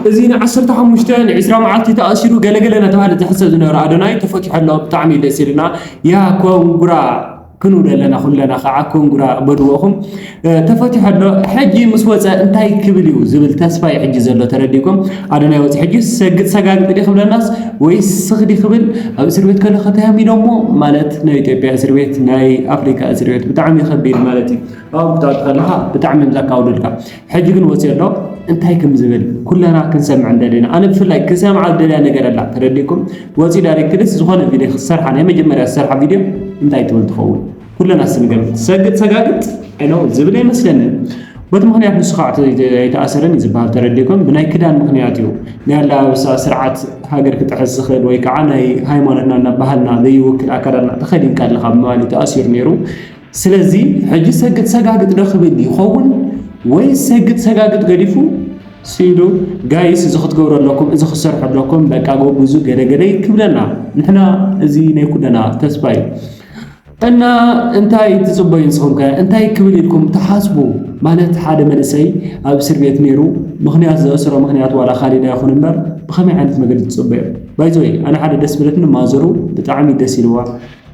እዚ ንዓሰርተ ሓሙሽተ ንዕስራ መዓልቲ ተኣሲሩ ገለገለ እናተባህለ ዝሕሰብ ዝነበረ ኣዶናይ ተፈቲሑ ኣሎ ብጣዕሚ እዩ ደስ ኢሉና ያ ኮንግራ ክንብል ኣለና ኩለና ከዓ ኮንግራ በልዎ ኢኹም ተፈቲሑ ኣሎ ሕጂ ምስ ወፀ እንታይ ክብል እዩ ዝብል ተስፋ እዩ ሕጂ ዘሎ ተረዲእኩም ኣዶናይ ወፂ ሕጂ ሰግጥ ሰጋግጥ ዲ ክብለናስ ወይስ ስኽዲ ክብል ኣብ እስር ቤት ከሎ ከተያም ኢሎሞ ማለት ናይ ኢትዮጵያ እስር ቤት ናይ ኣፍሪካ እስር ቤት ብጣዕሚ ከቢድ ማለት እዩ ኣብ ብጣዕሚ ከለካ ብጣዕሚ እዮም ዘካብዱልካ ሕጂ ግን ወጺኡ ኣሎ እንታይ ከም ዝብል ኩለና ክንሰምዕ እንደለና ኣነ ብፍላይ ክሰምዓ ዝደልያ ነገር ኣላ ተረዲኩም ወጺኡ ዳይሬክትሊስ ዝኾነ ቪድዮ ክሰርሓ ናይ መጀመርያ ዝሰርሓ ቪድዮ እንታይ ትብል ትኸውን ኩለና ስንገምት ሰግጥ ሰጋግጥ ኖ ዝብል ኣይመስለንን በቲ ምክንያት ንሱ ከዓ ኣይተኣሰረን እዩ ዝበሃል ተረዲኩም ብናይ ክዳን ምክንያት እዩ ናይ ኣላባብሳ ስርዓት ሃገር ክጥሕስ ዝኽእል ወይ ከዓ ናይ ሃይማኖትና እና ባህልና ዘይውክል ኣካዳድና ተኸዲንካ ኣለካ ብምባል እዩ ተኣሲሩ ነይሩ ስለዚ ሕጂ ሰግጥ ሰጋግጥ ዶ ክብል ይኸውን ወይስ ሰግጥ ሰጋግጥ ገዲፉ ስኢኑ ጋይስ እዚ ክትገብሩ ኣለኩም እዚ ክትሰርሑ ኣለኩም በቃ ጎብዙ ገደገደይ ክብለና ንሕና እዚ ናይ ኩለና ተስፋ እዩ እና እንታይ ትጽበዩ ንስኹም ከ እንታይ ክብል ኢልኩም ትሓስቡ ማለት ሓደ መንእሰይ ኣብ እስር ቤት ነይሩ ምክንያት ዘእስሮ ምክንያት ዋላ ካሊድ ኣይኹን እምበር ብኸመይ ዓይነት መገዲ ትጽበዩ ባይዘወይ ኣነ ሓደ ደስ ብለትኒ ማዘሩ ብጣዕሚ ደስ ኢልዋ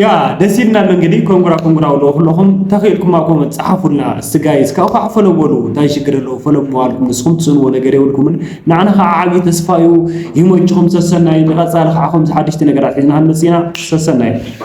ያ ደስ ኢልና ኣሎ እንግዲህ ኮንጉራ ኮንጉራ ብሎ ኩለኹም ተኽኢልኩም ኣኮመ ጸሓፉልና እስቲ ጋይስ ካብኡ ከዓ ፈሎ በሉ እንታይ ሽግር ኣለዎ ፈሎ ምባልኩም ንስኹም ትስእንዎ ነገር የብልኩምን ንዓና ከዓ ዓብዪ ተስፋ እዩ ይመችኹም ሰሰናዩ ንቐጻሊ ከዓ ከምዚ ሓደሽቲ ነገራት ሒዝና ክንመጽእ ኢና ሰሰናዩ